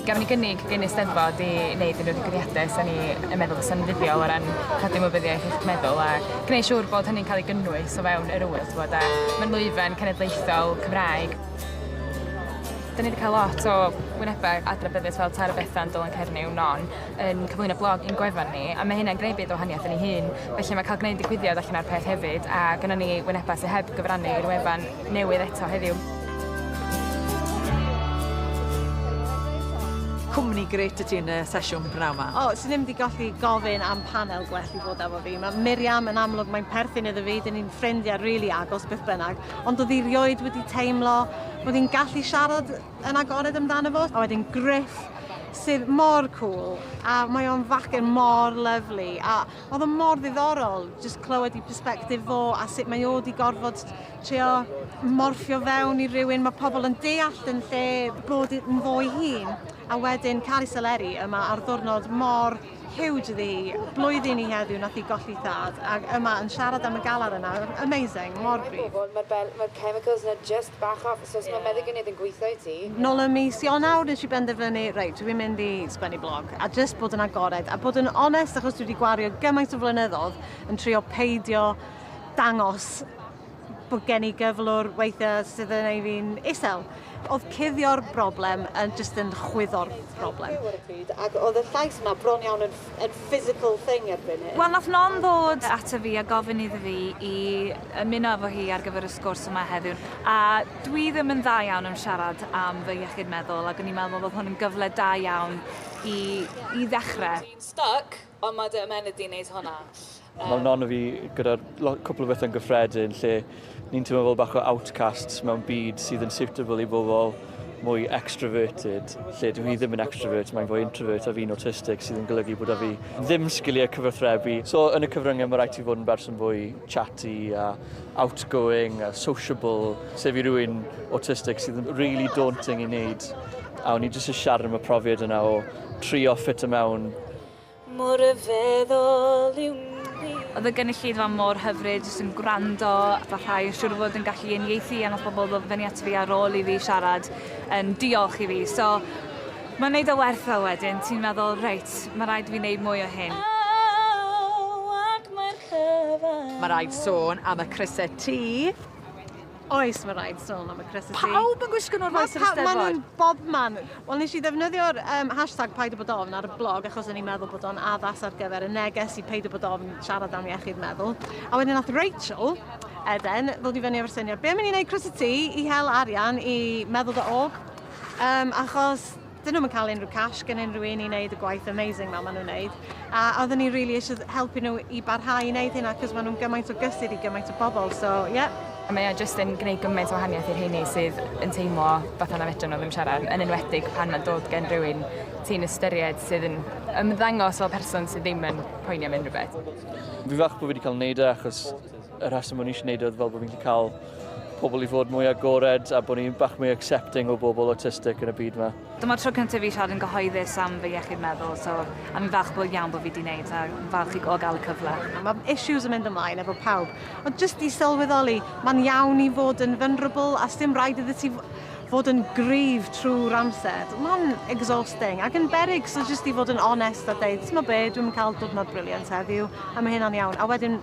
Gafon ni gynnig gyn Eisteddfod i wneud unrhyw ddigwyddiadau 'sen ni yn meddwl fysa'n fuddiol o ran codi ymwybyddiaeth iechyd meddwl a gwneud siŵr bod hynny'n cael ei gynnwys o fewn yr ŵyl t'bod a mae'n lwyfan cenedlaethol Cymraeg. Da ni 'di cael lot o wynebau adnabyddus fel Tara Bethan, Dylan Cernyw, Non yn cyflwyno blog i'n gwefan ni a mae hynna'n gwneud byd o wahaniaeth i ni hun felly mae cael gwneud digwyddiad allan o'r peth hefyd a gynnon ni wynebau sydd heb gyfrannu i'r wefan newydd eto heddiw. Cwmni grêt y ti yn y sesiwn pnawn ma. O, swn ddim wedi gallu gofyn am panel gwell i fod efo fi. Mae Miriam yn amlwg, mae'n perthyn iddo fi, dyn ni'n ffrindiau rili really agos beth bynnag, ond oedd hi rioed wedi teimlo bod hi'n gallu siarad yn agored amdano fo. A wedyn Griff, sydd mor cool, a mae o'n facen mor lyflu, a Oedd o mor ddiddorol jyst clywed i perspectif fo a sut mae o wedi gorfod trio morffio fewn i rywun mae pobl yn deall yn lle bod yn fo'i hun a wedyn cael ei seleri yma ar ddwrnod mor huge iddi hi. Blwyddyn i heddiw nath hi golli thad ac yma yn siarad am y galar yna. Amazing, mor gryf. Mae'r chemicals yna jyst Bach off, so os mae meddyginiaeth yn gweithio i ti? Nôl ym mis Ionawr nes i benderfynu, reit, dwi'n mynd i sgwennu blog, a jyst bod yn agored, a bod yn onest, achos dwi wedi gwario gymaint o flynyddoedd yn trio peidio dangos bod gen i gyflwr weithiau sydd yn ei fi'n isel. Oedd cuddio'r broblem yn jyst yn chwyddo'r broblem. Ac oedd y llais yna bron iawn yn yn physical thing erbyn hyn. Wel nath Nom ddod ato fi a gofyn iddo fi i ymuno efo hi ar gyfer y sgwrs yma heddiw a dwi ddim yn dda iawn yn siarad am fy iechyd meddwl ac o'n i'n meddwl bod hwn yn gyfle da iawn i i ddechre. Dwi'n styc ond ma' dy ymennydd di'n neud hwnna. Mae non o fi gyda'r lo- cwpl o bethau'n gyffredin lle ni'n teimlo fel bach o outcasts mewn byd sydd yn suitable i bobl mwy extroverted, lle dwi ddim yn extrovert, mae'n fwy introvert a fi'n autistic sydd yn golygu bod a fi ddim sgiliau cyfathrebu. So yn y cyfryngau mae rhaid ti fod yn berson fwy chatty a outgoing a sociable, sef i rywun autistic sydd yn really daunting i wneud. A o'n i jyst yn siarad am y profiad yna o trio ffit o mewn Mor ryfeddol yw Mimi. Oedd y gynulleidfa mor hyfryd, jyst yn gwrando, barhau a siwr o fod yn gallu uniaethu a nath pobl ddod fyny ato fi ar ôl i fi siarad yn diolch i fi so mae'n neud o werth o wedyn ti'n meddwl reit ma' raid fi neud mwy o hyn. Mae raid sôn am y crysau T. Oes, mae rhaid sôn am y cressity. Pawb yn gwisgo nhw'r faes yr Eisteddfod? Mae nhw'n bob man. Wel, nes i ddefnyddio'r um, hashtag paid o bod ofn ar y blog achos o'n i'n meddwl bod o'n addas ar gyfer y neges i paid o bod ofn siarad am iechyd meddwl. A wedyn nath Rachel, Eden, ddod i fyny efo'r syniad, be am i ni'n gwneud cressity i hel arian i meddwl dy og? Um, achos dyn nhw'n cael unrhyw cash gen unrhyw un i wneud y gwaith amazing ma maen nhw'n wneud. A oedden ni really eisiau helpu nhw i barhau i wneud hynna cos maen nhw'n gymaint o gysur i gymaint o bobl, so ie. Yeah. Mae o jyst yn gwneud gymaint o wahaniaeth i'r heini sydd yn teimlo fath yna fedrwn nhw ddim siarad, yn enwedig pan mae'n dod gen rhywun ti'n ystyried sydd yn ymddangos fel person sydd ddim yn poeni am unrhyw beth. Fi fach bod fi wedi cael wneud e achos Y rheswm o'n i eisiau gwneud oedd fel bod fi'n gallu cael pobl i fod mwy agored a bod ni'n bach mwy accepting o bobl autistic yn y byd yma. Dyma'r tro cyntaf fi siarad yn gyhoeddus am fy iechyd meddwl, so am i'n falch bod iawn bod fi wedi gwneud a falch i gael y cyfle. Mae issues yn mynd ymlaen efo pawb, ond jyst i sylweddoli, mae'n iawn i fod yn vulnerable a sdim rhaid iddo ti fod yn gryf trwy'r amser. Mae'n exhausting ac yn beryg, so jyst i fod yn onest a dweud, ti'n be, dwi'n cael diwrnod briliant heddiw a mae hynna'n iawn. A wedyn